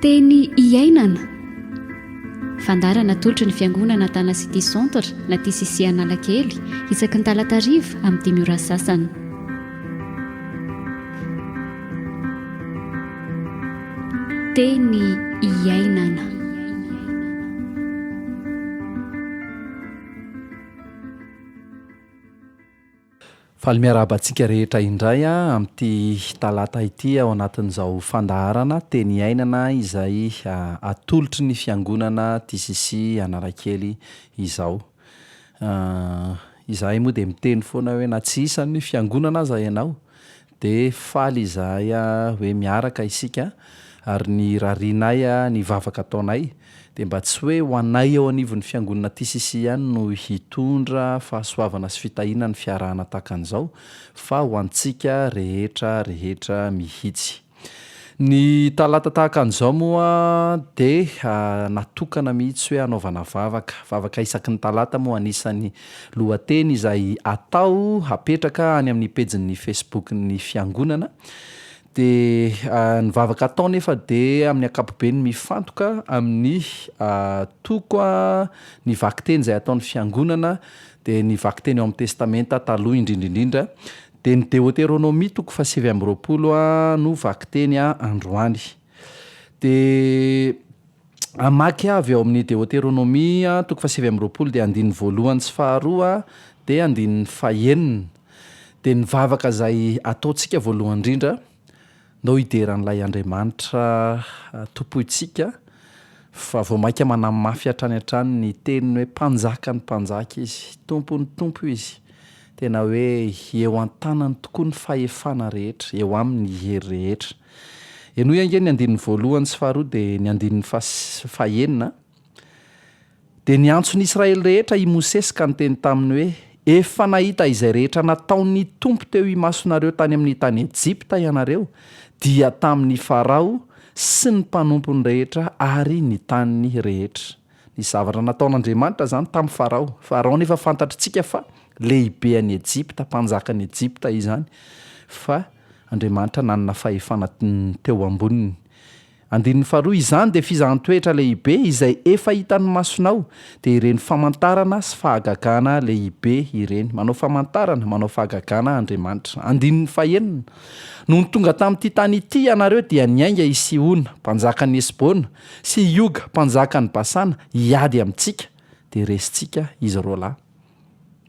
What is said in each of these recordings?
Teny iainana. Fandara natolotry ny fiangonana Tana City Centre na TCC Analakely isaky ny talata hariva amin'ny dimy ora sasany. Teny iainana. Faly miarahaba antsika rehetra indray amin'ity talata ity ao anatin'izao fandaharana Teny Iainana izay atolotry ny Fiangonana TCC Analakely izao. Izahay moa dia miteny foana hoe na tsy isan'ny Fiangonana aza ianao Dia faly izahay hoe miaraka isika ary ny rarianay ny vavaka ataonay dia mba tsy hoe ho anay eo anivon'ny fiangonana TCC ihany no hitondra fahasoavana sy fitahiana ny fiarahana tahaka an'izao fa ho antsika rehetra rehetra mihitsy. Ny talata tahaka an'izao moa dia natokana mihitsy hoe hanaovana vavaka, vavaka isaky ny talata moa anisany Lohateny izay atao hapetraka any amin'ny pejin'ny Facebook-n'ny Fiangonana. Dia ny vavaka atao anefa dia amin'ny ankapobeny mifantoka amin'ny toko ny vakiteny izay ataon'ny Fiangonana, dia ny vakiteny ao amin'ny Testamenta Taloha indrindra indrindra. Dia ny Deoteronomia toko fahasivy amby roapolo no vakiteny androany. Dia hamaky avy ao amin'ny Deoteronomia toko fahasivy amby roapolo dia andininy voalohany sy faharoa dia andininy fahenina dia ny vavaka izay ataontsika voalohany indrindra ndao hidera an'ilay Andriamanitra tompointsika fa vao maika manamafy hatrany hatrany ny teniny hoe mpanjakan'ny mpanjaka izy, tompon'ny tompo izy, tena hoe eo an-tanany tokoa ny fahefana rehetra, eo aminy ny hery rehetra. Henoy ange ny andininy voalohany sy faharoa dia ny andininy fahenina a. Dia niantso ny Israely rehetra i Mosesy ka niteny taminy hoe, Efa nahita izay rehetra nataon'ny Tompo teo imasonareo tany amin'ny tany Ejipta ianareo, dia tamin'i Farao sy ny mpanompony rehetra ary ny taniny rehetra. Nisy zavatra nataon'Andriamanitra izany tamin'i Farao. Farao anefa fantatr'itsika fa lehibe an'i Ejipta, mpanjakan'i Ejipta izany fa Andriamanitra nanana fahefana teo amboniny. Andininy faharoa, izany dia fizahan-toetra lehibe izay efa hitan'ny masonao, dia ireny famantarana sy fahagagana lehibe ireny. Manao famantarana, manao fahagagana Andriamanitra. Andininy fahenina, Nony tonga tamin'ity tany ity ianareo dia niainga i Sihona, mpanjakan'i Hesbona, sy i Oga, mpanjakan'i Basana, hiady amintsika, dia resintsika izy roalahy.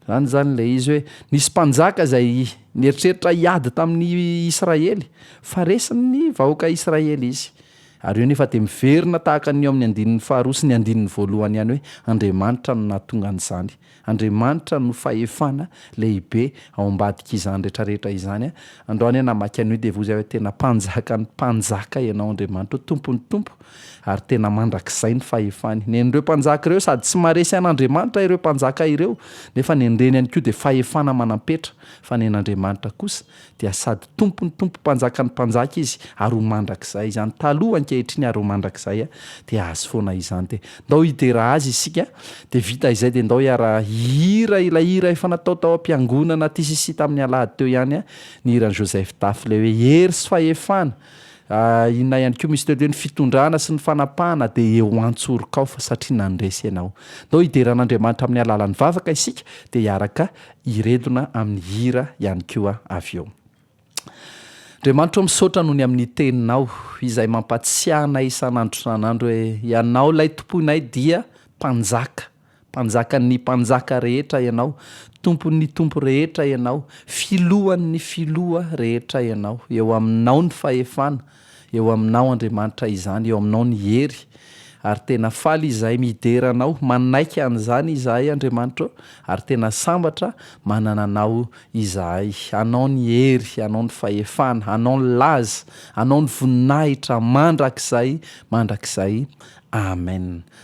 Izany izany ilay izy hoe nisy mpanjaka izay nieritreritra hiady tamin'ny Israely, fa resin'ny vahoaka Israely izy. Ary eo anefa dia miverina tahaka ny eo amin'ny andininy faharoa sy ny andininy voalohany ihany hoe Andriamanitra no nahatonga an'izany. Andriamanitra no fahefana lehibe ao ambadik'izany rehetrarehetra izany. Andao anie namaky an'io dia voa izay hoe tena mpanjakan'ny mpanjaka ianao Andriamanitra, tompon'ny tompo ary tena mandrakizay ny fahefany. Nen'ireo mpanjaka ireo sady tsy maharesy an'Andriamanitra ireo mpanjaka ireo, nefa nen'ireny ihany koa dia fahefana manam-petra, fa nen'Andriamanitra kosa dia sady Tompon'ny tompo Mpanjakan'ny mpanjaka Izy ary ho mandrakizay izany taloha, ankehitriny ary ho mandrakizay dia Azy foana izany dia ndao hidera Azy isika dia vita izay dia ndao hiara hihira ilay hira efa natao tao am-piangonana tisisy tamin'ny alahady teo ihany ny hiran'i Joseph Tafy ilay hoe hery sy fahefana Inona ihany koa misy tety hoe ny fitondrana sy ny fanapahana dia eo an-tsoroko ao fa satria nandresy ianao. Ndao hidera an'Andriamanitra amin'ny alalan'ny vavaka isika dia hiaraka hiredona amin'ny hira ihany koa avy eo. Andriamanitra o misaotra noho ny amin'ny teninao izay mampatsiahy anay isan'andro isan'andro hoe ianao ilay tompoinay dia mpanjaka. Mpanjakan' ny mpanjaka rehetra Ianao, Tompon' ny tompo rehetra Ianao, Filohan' ny filoha rehetra Ianao. Eo Aminao ny fahefana, eo Aminao, Andriamanitra, izany, eo Aminao ny hery. Ary tena faly izahay midera Anao, manaiky an'izany izahay, Andriamanitra ô, ary tena sambatra manana Anao izahay. Anao ny hery, Anao ny fahefana, Anao ny laza, Anao ny voninahitra mandrakizay mandrakizay. Amen.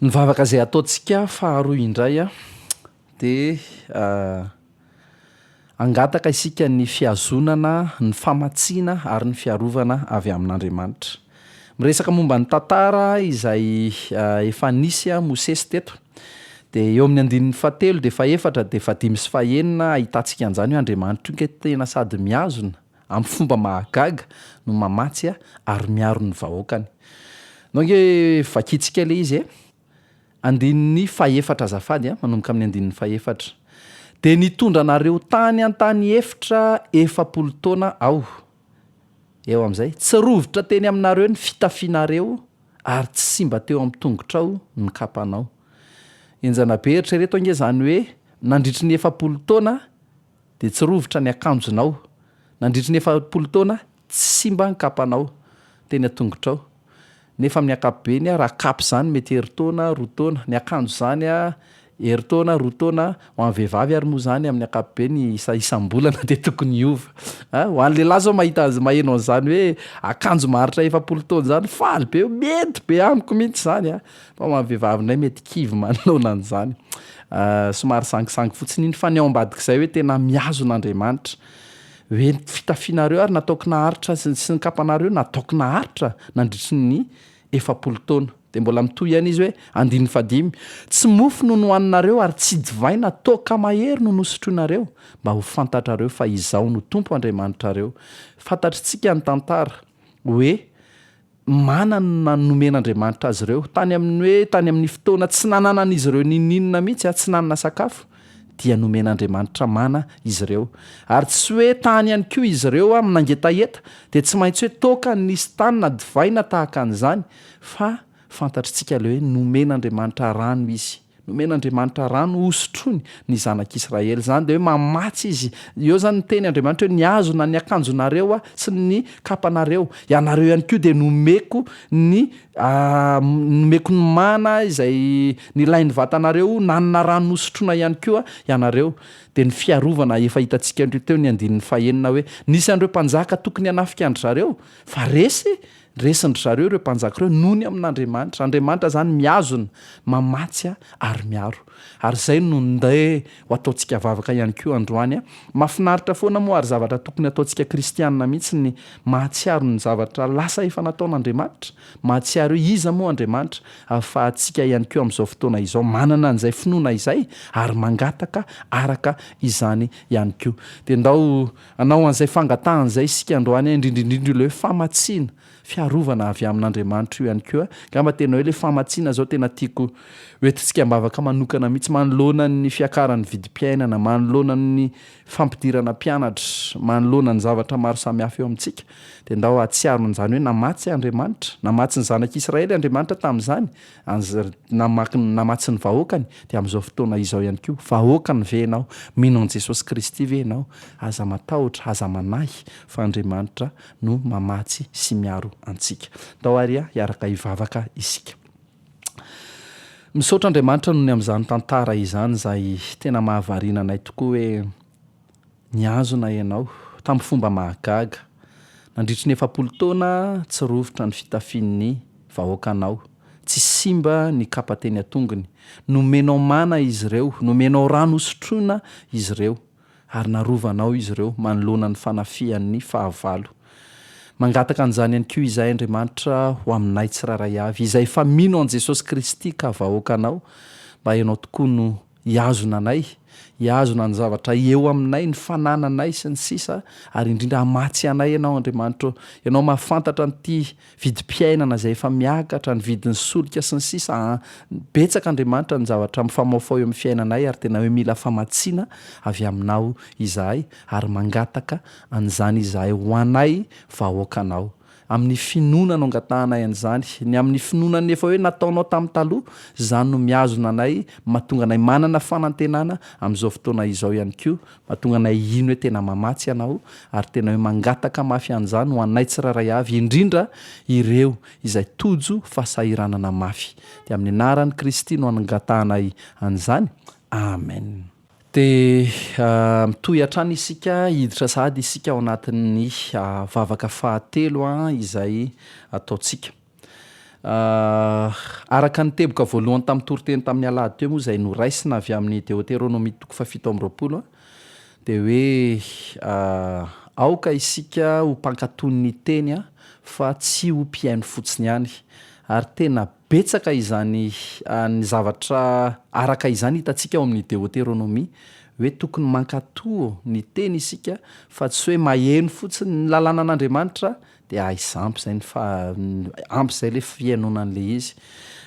Ny vavaka izay ataontsika faharoa indray dia hangataka isika ny fihazonana, ny famatsiana ary ny fiarovana avy amin'Andriamanitra. Miresaka momba ny tantara izay efa nisy Mosesy teto dia eo amin'ny andininy fahatelo dia fahefatra dia fahadimy sy fahenina ahitantsika an'izany hoe Andriamanitra io ange tena sady mihazona amin'ny fomba mahagaga no mamatsy ary miaro ny vahoakany. Nao ange vakintsika ilay izy e! Andininy fahefatra azafady a, manomboka amin'ny andininy fahefatra. Dia nitondra anareo tany an-tany efitra efapolo taona Aho. Eo amin'izay, tsy rovitra teny aminareo ny fitafianareo ary tsy simba teo amin'ny tongotrao ny kapanao. Henjana be! Eritrereto ange izany hoe nandritry ny efapolo taona Dia tsy rovitra ny akanjonao. Nandritry ny efapolo taona, tsy simba ny kapanao, teny an-tongotrao. Nefa amin'ny ankapobeny, raha kapa izany, mety herintaona, roa taona. Ny akanjo izany, herintaona, roa taona. Ho an'ny vehivavy ary moa izany, amin'ny ankapobeny, isa isam-bolana dia tokony hiova. A, ho an'ny lehilahy izao mahita an'izay, maheno an'izany hoe akanjo maharitra efapolo taona izany, faly be, mety be amiko mihitsy izany a! Fa ho an'ny vehivavinay mety kivy manoloana an'izany. Somary sangisangy fotsiny iny. Fa ny ao ambadik'izay hoe tena mihazona Andriamanitra. Hoe ny fitafianareo ary nataoko naharitra sy ny kapanareo nataoko naharitra nandritry ny efapolo taona. Dia mbola mitohy ihany izy hoe, andininy fahadimy, Tsy mofo no nohaninareo ary tsy divaina, toaka mahery no nosotroinareo, mba ho fantatrareo fa Izaho no Tompo Andriamanitrareo. Fantatr'itsika ny tantara. Hoe manana ny nomen'Andriamanitra azy ireo, tany amin'ny hoe tany amin'ny fotoana tsy nananan'izy ireo n'inon'inona mihitsy aho, tsy nanana sakafo, dia nomen'Andriamanitra mana izy ireo. Ary tsy hoe tany ihany koa izy ireo amin'ny nangetaheta, dia tsy maintsy hoe toaka ny nisy tany na divay na tahaka an'izany, fa fantatr'itsika ilay hoe nomen'Andriamanitra rano izy. Nomen'Andriamanitra rano hosotroiny ny zanak'Israely. Izany dia hoe mamatsy Izy. Eo izany ny teny Andriamanitra hoe, Ny hazo na ny akanjonareo sy ny kapanareo. Ianareo ihany koa dia nomeko ny nomeko ny mana izay nilain'ny vatanareo, nanana rano nosotroina ihany koa ianareo. Dia ny fiarovana efa hitantsika teo ny andininy fahenina hoe, Nisy an'ireo mpanjaka tokony hanafika an-dry zareo, fa resy Resin-dry zareo ireo mpanjaka ireo nony amin'Andriamanitra. Andriamanitra izany mihazona, mamatsy ary miaro. Ary izay no ndeha ho ataontsika vavaka ihany koa androany. Mahafinaritra foana moa ary zavatra tokony hataontsika kristiana mihitsy ny mahatsiaro ny zavatra lasa efa nataon'Andriamanitra. Mahatsiaro hoe iza moa Andriamanitra ahafahantsika ihany koa amin'izao fotoana izao manana an'izay finoana izay ary mangataka araka izany ihany koa. Dia ndao Hanao an'izay fangatahany izay isika androany, indrindra indrindra ilay hoe famatsiana, fiarovana avy amin'Andriamanitra io ihany koa. Angamba tena hoe ilay famatsiana izao tena tiako ho entintsika am-bavaka manokana mihitsy manoloana ny fiakaran'ny vidim-piainana, manoloana ny fampidirana mpianatra, manoloana ny zavatra maro samihafa eo amintsika, dia ndao hahatsiaro an'izany hoe namatsy Andriamanitra, namatsy ny zanak'Israely Andriamanitra tamin'izany, Anz ry namaky ny namatsy ny vahoakany dia amin'izao fotoana izao ihany koa vahoakany ve ianao? Mino an'i Jesosy Kristy ve ianao? Aza matahotra, aza manahy fa Andriamanitra no mamatsy sy miaro antsika. Ndao ary hiaraka hivavaka isika. Misaotra Andriamanitra noho ny amin'izany tantara izany izay tena mahavariana anay tokoa hoe Nihazona ianao, tamin'ny fomba mahagaga. Nandritry ny efapolo taona, tsy rovitra ny fitafian'ny vahoakanao. Tsy simba ny kapa teny an-tongony. Nomenao mana izy ireo, nomenao rano hosotroina izy ireo, ary narovanao izy ireo manoloana ny fanafihan'ny fahavalo. Mangataka an'izany ihany koa izahay, Andriamanitra, ho aminay tsirairay avy, izay efa mino an'i Jesosy Kristy ka vahoakanao, mba ianao tokoa no hihazona anay, hihazona ny zavatra eo aminay, ny fanananay sy ny sisa ary indrindra hamatsy anay Ianao Andriamanitra ô! Ianao mahafantatra an'ity vidim-piainana izay efa miakatra, ny vidin'ny solika sy ny sisa an! Betsaka Andriamanitra ny zavatra mifamaofao eo amin'ny fiainanay ary tena hoe mila famatsiana avy Aminao izahay ary mangataka an'izany izahay ho anay vahoakanao. Amin'ny finoana no angatahanay an'izany. Ny amin'ny finoanan'ny efa hoe nataonao tamin'ny taloha, izany no mihazona anay, mahatonga anay manana fanantenana amin'izao fotoana izao ihany koa, mahatonga anay hino hoe tena mamatsy Ianao, ary tena hoe mangataka mafy an'izany ho anay tsirairay avy, indrindra ireo izay tojo fahasahiranana mafy. Dia amin'ny anaran'i Kristy no angatahanay an'izany. Amen. Dia mitohy hatrany isika hiditra sahady isika ao anatin'ny vavaka fahatelo izay ataontsika. Araka ny teboka voalohany tamin'ny toriteny tamin'ny alahady teo moa izay noraisina avy amin'ny Deoteronomia toko fahafito amby roapolo dia hoe aoka isika ho mpankatò ny teny fa tsy ho mpihaino fotsiny ihany ary tena Betsaka izany ny zavatra araka izany hitantsika ao amin'ny Deoteronomia, hoe tokony mankatò ny teny isika fa tsy hoe maheno fotsiny ny lalànan'Andriamanitra dia aiza ampy izay ny fa- ampy izay ilay fihainoana an'ilay izy.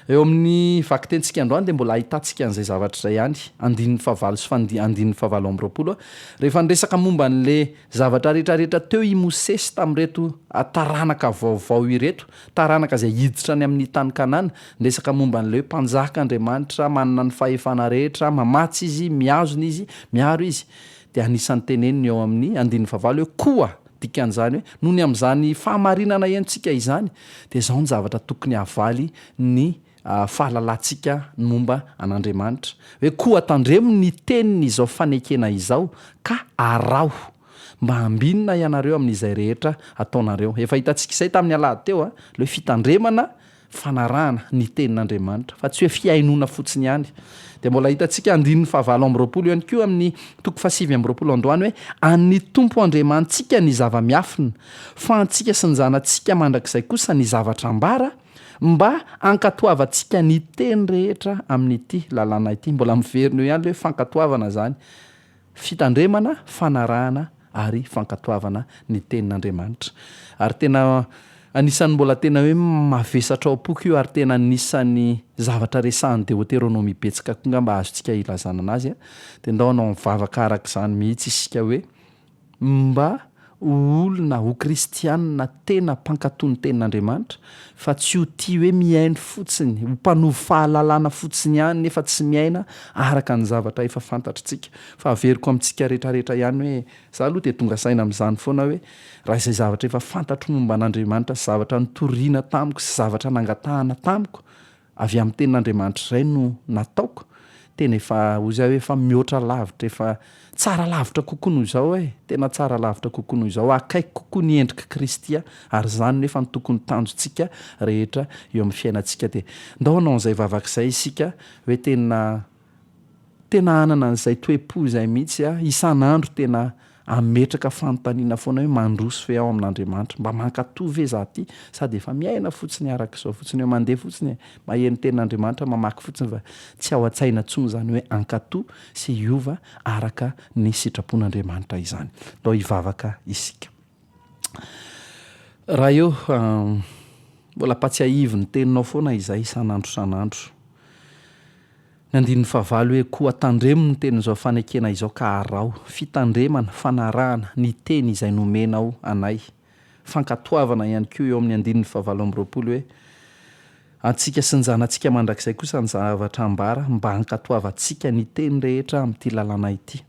Eo amin'ny vakitentsika androany dia mbola ahitantsika an'izay zavatra izay ihany, andininy fahavalo sy fahandi- andininy fahavalo amby roapolo, rehefa niresaka momba an'ilay zavatra rehetrarehetra teo i Mosesy tamin'ireto taranaka vaovao ireto, Taranaka izay hiditra any amin'ny tany Kanana. Miresaka momba an'ilay hoe Mpanjaka Andriamanitra manana ny fahefana rehetra, mamatsy Izy, mihazona Izy, miaro Izy. Dia anisan'ny teneniny eo amin'ny andininy fahavalo hoe koa, dikan'izany hoe nony amin'izany fahamarinana henontsika izany dia izao ny zavatra tokony hahavaly ny fahalalantsika ny momba an'Andriamanitra, hoe koa tandremo ny tenin'izao fanekena izao, ka araho, mba hambinina ianareo amin'izay rehetra ataonareo. Efa hitantsika izay tamin'ny alahady teo, ilay hoe fitandremana, fanarahana ny tenin'Andriamanitra, fa tsy hoe fihainoana fotsiny ihany. Dia mbola hitantsika andininy fahavalo amby roapolo ihany koa amin'ny toko fahasivy amby roapolo androany hoe, An'ny Tompo Andriamanitsika ny zava-miafina, fa antsika sy ny zanatsika mandrakizay kosa ny zavatra ambara, Mba hankatoavantsika ny teny rehetra amin'ity lalàna ity, mbola miverina eo ihany ilay hoe fankatoavana izany, fitandremana, fanarahana ary fankatoavana ny tenin'Andriamanitra. Ary tena anisan'ny mbola tena hoe mavesatra ao am-poko io ary tena anisan'ny zavatra resahan'i Deoteronomia betsaka koa angamba azontsika ilazana anazy. Dia ndao hanao vavaka araka izany mihitsy isika hoe. Mba ho olona, ho kristianina tena mpankatò ny Tenin'Andriamanitra, fa tsy ho tia hoe mihaino fotsiny, ho mpanovo fahalalana fotsiny ihany nefa tsy miaina araka ny zavatra efa fantatritsika. Fa averiko amintsika rehetrarehetra ihany hoe, izaho aloha dia tonga saina amin'izany foana hoe, raha izay zavatra efa fantatro momba an'Andriamanitra sy zavatra nitoriana tamiko sy zavatra nangatahana tamiko, Avy amin'ny tenin'Andriamanitra izay no nataoko, tena efa, hoy izaho, efa mihoatra lavitra, efa tsara lavitra kokoa noho izao e! Tena tsara lavitra kokoa noho izao, akaiky kokoa ny endrik'i Kristy aho, ary izany nefa no tokony ho tanjontsika rehetra eo amin'ny fiainantsika. Dia ndao hanao an'izay vavaka izay isika, hoe tena. Tena hanana an'izay toe-po izay mihitsy aho, isan'andro tena ametraka fanontaniana foana hoe mandroso ve aho amin'Andriamanitra? Mba mankatò ve izaho ity? Sady efa miaina fotsiny araka izao fotsiny eo, mandeha fotsiny e, maheno ny tenin'Andriamanitra, mamaky fotsiny fa tsy ao an-tsaina intsony izany hoe hankatò sy hiova araka ny sitrapon'Andriamanitra izany. Ndao hivavaka isika. Raha eo, mbola ampatsiahivo ny teninao foana izay isan'andro isan'andro. Ny andininy fahavalo hoe koa tandremo ny tenin'izao fanekena izao ka araho. Fitandremana, fanarahana, ny teny izay nomenao anay. Fankatoavana ihany koa eo amin'ny andininy fahavalo amby roapolo hoe, antsika sy ny zanatsika mandrakizay kosa ny zavatra ambara mba hankatoavantsika ny teny rehetra amin'ity lalàna ity.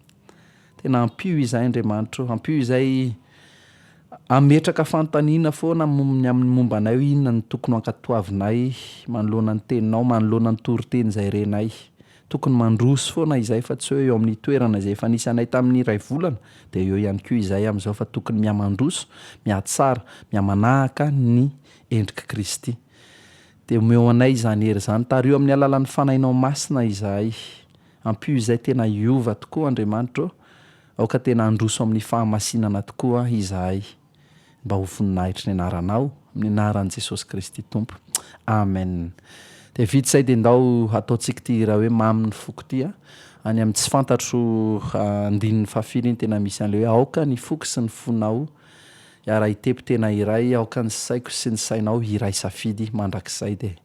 Tena ampio izay Andriamanitro ô, ampio izay hametraka fanontaniana foana ny amin'ny momba anay hoe inona no tokony ho ankatoavinay manoloana ny Teninao, manoloana ny toriteny izay renay. Tokony mandroso foana izay fa tsy hoe eo amin'ny toerana izay efa nisy anay tamin'ny iray volana dia eo ihany koa izay amin'izao fa tokony mihamandroso, mihatsara, mihamanahaka ny endrik'i Kristy. Dia omeo anay izany hery izany, tariho amin'ny alalan'ny Fanahinao Masina izahay. Ampio izay tena hiova tokoa Andriamanitra ô, aoka tena handroso amin'ny fahamasinana tokoa izahay mba ho voninahitry ny anaranao, amin'ny anaran'i Jesosy Kristy Tompo. Amen. Dia vita izay dia ndao hataontsika ity hira hoe Mamy ny foko ity a. Any amin'ny tsy fantatro andininy fahafiry iny tena misy an'ilay hoe aoka ny foko sy ny fonao hiara-hitepo tena iray, aoka ny saiko sy ny sainao hiray safidy mandrakizay dia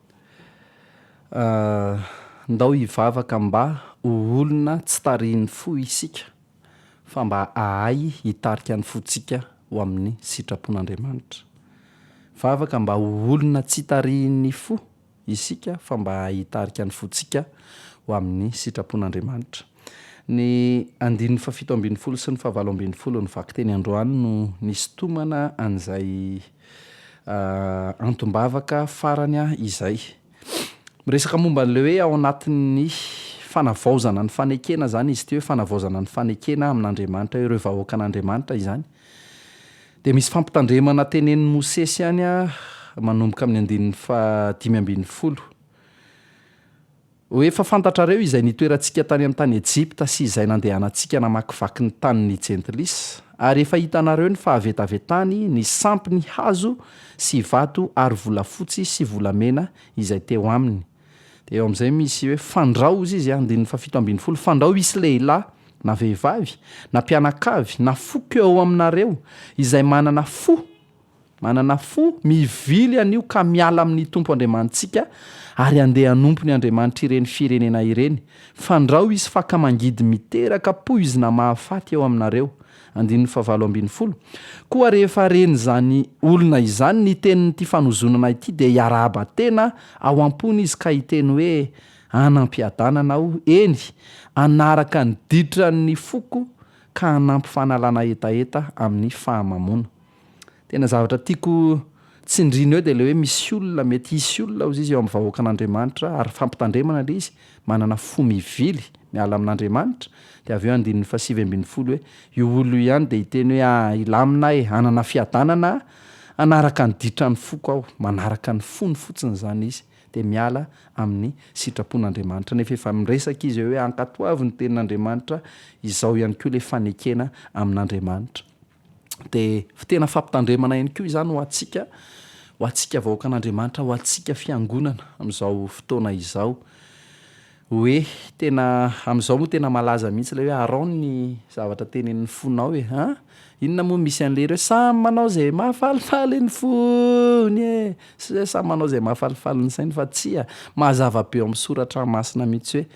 Ndao hivavaka mba ho olona tsy tarihin'ny fo isika fa mba hahay hitarika ny fontsika ho amin'ny sitrapon'Andriamanitra. Vavaka mba ho olona tsy tarihin'ny fo isika fa mba hahay hitarika ny fontsika ho amin'ny sitrapon'Andriamanitra. Ny andininy fahafito ambin'ny folo sy ny fahavalo ambin'ny folo ny vakiteny androany no nisintomana an'izay antom-bavaka farany izay. Miresaka momba an'ilay hoe ao anatin'ny fanavaozana ny fanekena izany izy ity hoe fanavaozana ny fanekena amin'Andriamanitra, ireo vahoakan'Andriamanitra izany. Dia misy fampitandremana tenenin'i Mosesy ihany manomboka amin'ny andininy faha dimy ambin'ny folo. Ho efa fantatrareo izay nitoerantsika tany amin'ny tany Ejipta sy izay nandehanantsika namakivaky ny tanin'i Jentlis, ary efa hitanareo ny fahavetavetany, ny sampiny hazo sy vato ary volafotsy sy volamena izay teo aminy. Dia eo amin'izay misy hoe, Fandrao, hozy izy, andininy fahafito ambin'ny folo, fandrao hisy lehilahy, na vehivavy, na mpianakavy, na foko eo aminareo, izay manana fo Manana fo mivily anio ka miala amin'ny Tompo Andriamanitsika ary handeha hanompo ny andriamanitr'ireny firenena ireny. Fandrao hisy fakamangidy miteraka poizina mahafaty eo aminareo. Andininy fahavalo ambin'ny folo. Koa rehefa ren'izany olona izany ny tenin'ity fanozonana ity dia hiarahaba tena ao am-pony izy ka hiteny hoe, Anam-piadanana aho, eny, hanaraka ny ditran'ny foko ka hanampy fanalana hetaheta amin'ny fahamamoana. Tena zavatra tiako tsindrina eo dia ilay hoe misy olona, mety hisy olona hozy izy eo amin'ny vahoakan'Andriamanitra ary fampitandremana ilay izy, manana fo mivily miala amin'Andriamanitra, dia avy eo andininy fahasivy ambin'ny folo hoe io olona io ihany dia hiteny hoe ah hilamina aho e, hanana fiadanana aho, hanaraka ny ditran'ny foko aho, manaraka ny fony fotsiny izany izy dia miala amin'ny sitrapon'Andriamanitra, nefa efa miresaka izy eo hoe ankatoavy ny tenin'Andriamanitra, izao ihany koa ilay fanekena amin'Andriamanitra. Dia tena fampitandremana ihany koa izany ho antsika, ho antsika vahoakan'Andriamanitra, ho antsika fiangonana amin'izao fotoana izao. Hoe tena, amin'izao moa tena malaza mihitsy ilay hoe arao ny zavatra tenenin'ny fonao e! an! Inona moa misy an'ilay hira hoe samy manao izay mahafalifaly ny fony e! Sa samy manao izay mahafalifaly ny sainy fa tsia, mazava be ao amin'ny soratra masina mihitsy hoe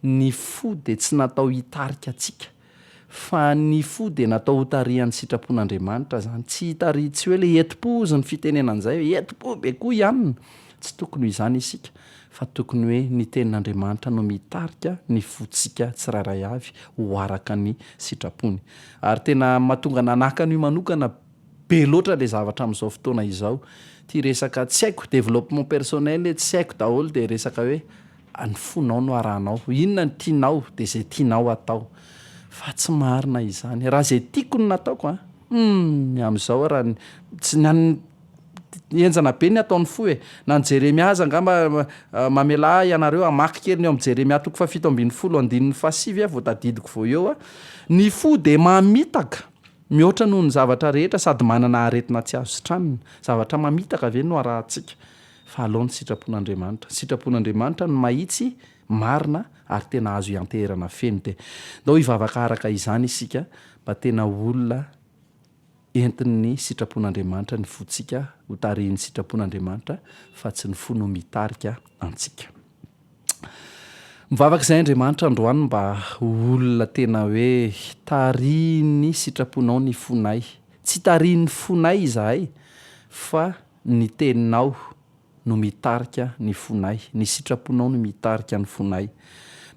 ny fo dia tsy natao hitarika antsika Fa ny fo dia natao ho tarihan'ny sitrapon'Andriamanitra izany. Tsy hitarihy tsy hoe ilay hetim-po hozy ny fitenenana an'izay hoe hetim-po be koa ihany. Tsy tokony ho izany isika, fa tokony hoe ny tenin'Andriamanitra no mitarika ny fontsika tsirairay avy ho araka ny sitrapony. Ary tena mahatonga ahy nanakana io manokana be loatra ilay zavatra amin'izao fotoana izao. Ity resaka tsy haiko, développement personnel, tsy haiko daholo dia resaka hoe Ny fonao no arahanao. Inona no tianao dia izay tianao atao. Fa tsy marina izany. Raha izay tiako no nataoko an! Humm! Amin'izao aho raha tsy ny an'ny Henjana be ny ataon'ny fo e! Na ny Jeremia aza angamba mamelà ahy ianareo hamaky kely ny ao amin'ny Jeremia toko fahafito ambin'ny folo andininy fahasivy aho vao tadidiko vao eo an! Ny fo dia mamitaka mihoatra noho ny zavatra rehetra sady manana aretina tsy azo sitranina. Zavatra mamitaka ve no arahantsika? fa alao ny sitrapon'Andriamanitra. Ny sitrapon'Andriamanitra ny mahitsy, marina ary tena azo ianteherana feno dia ndao hivavaka araka izany isika mba tena ho olona entin'ny sitrapon'Andriamanitra ny fontsika ho tarihin'ny sitrapon'Andriamanitra fa tsy ny fo no mitarika antsika. Mivavaka izay Andriamanitra androany mba ho olona tena hoe tarihin'ny sitraponao ny fonay. Tsy tarihin'ny fonay izahay fa Ny Teninao no mitarika ny fonay. Ny sitraponao no mitarika ny fonay.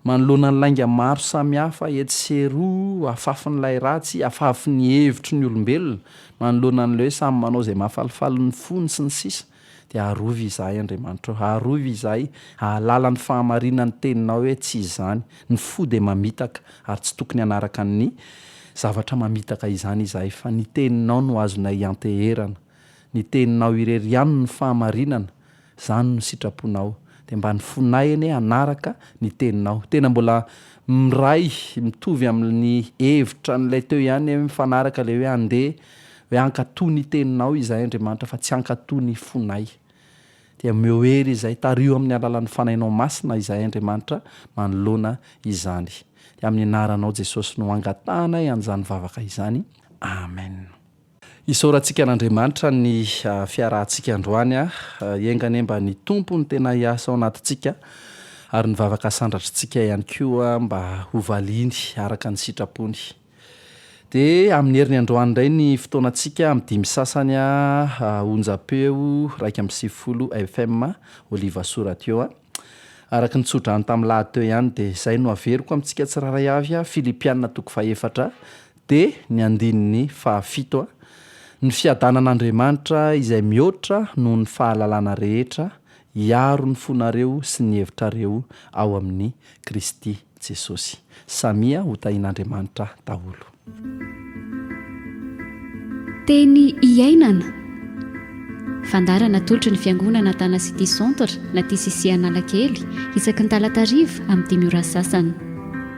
Manoloana ny lainga maro samihafa etsy sy eroa, afafin'ilay ratsy, afafin'ny hevitry ny olombelona, manoloana an'ilay hoe samy manao izay mahafalifaly ny fony, sy ny sisa, dia arovy izahay, Andriamanitra ô. Arovy izahay, ahalala ny fahamarinan'ny Teninao hoe tsy izany. Ny fo dia mamitaka, ary tsy tokony hanaraka ny zavatra mamitaka izany izahay, fa ny Teninao no azonay ianteherana. Ny teninao irery ihany no fahamarinana, zany no sitraponao, de mba nifonay anie hanaraka ny teninao, tena mbola miray mitovy aminy hevitra an'ilay teo ihany anie mifanaraka le hoe ande hoe hankato ny teninao izahay Andriamanitra fa tsy hankato ny fonay, dia omeo hery izay, tariho amin'ny alalan'ny fanainao masina izahay Andriamanitra manoloana izany, dia amin'ny anaranao Jesosy no angatahanay an'izany vavaka izany, Amen. Isaorantsika an'Andriamanitra ny fiarahantsika androany. Enga anie mba ny Tompo no tena hiasa ao anatintsika ary ny vavaka sandratr'tsika ihany koa mba ho valiany araka ny sitrapony. Dia amin'ny heriny androany indray ny fotoanantsika amin'ny dimy sasany onjam-peo iraika amby sivifolo FM Oliva Soa Radio. Araka ny tsodrano tamin'ilahady teo ihany dia izay no averiko amintsika tsirairay avy, Filipiana toko fahefatra, Dia ny andininy fahafito, Ny fiadanan'Andriamanitra izay mihoatra noho ny fahalalana rehetra hiaro ny fonareo sy ny hevitrareo ao amin'i Kristy Jesosy. Samia ho tahin'Andriamanitra daholo. Teny iainana. Fandara natolotry ny Fiangonana Tana City Centre na TCC Analakely, isaky ny talata hariva amin'ny dimy ora sasany.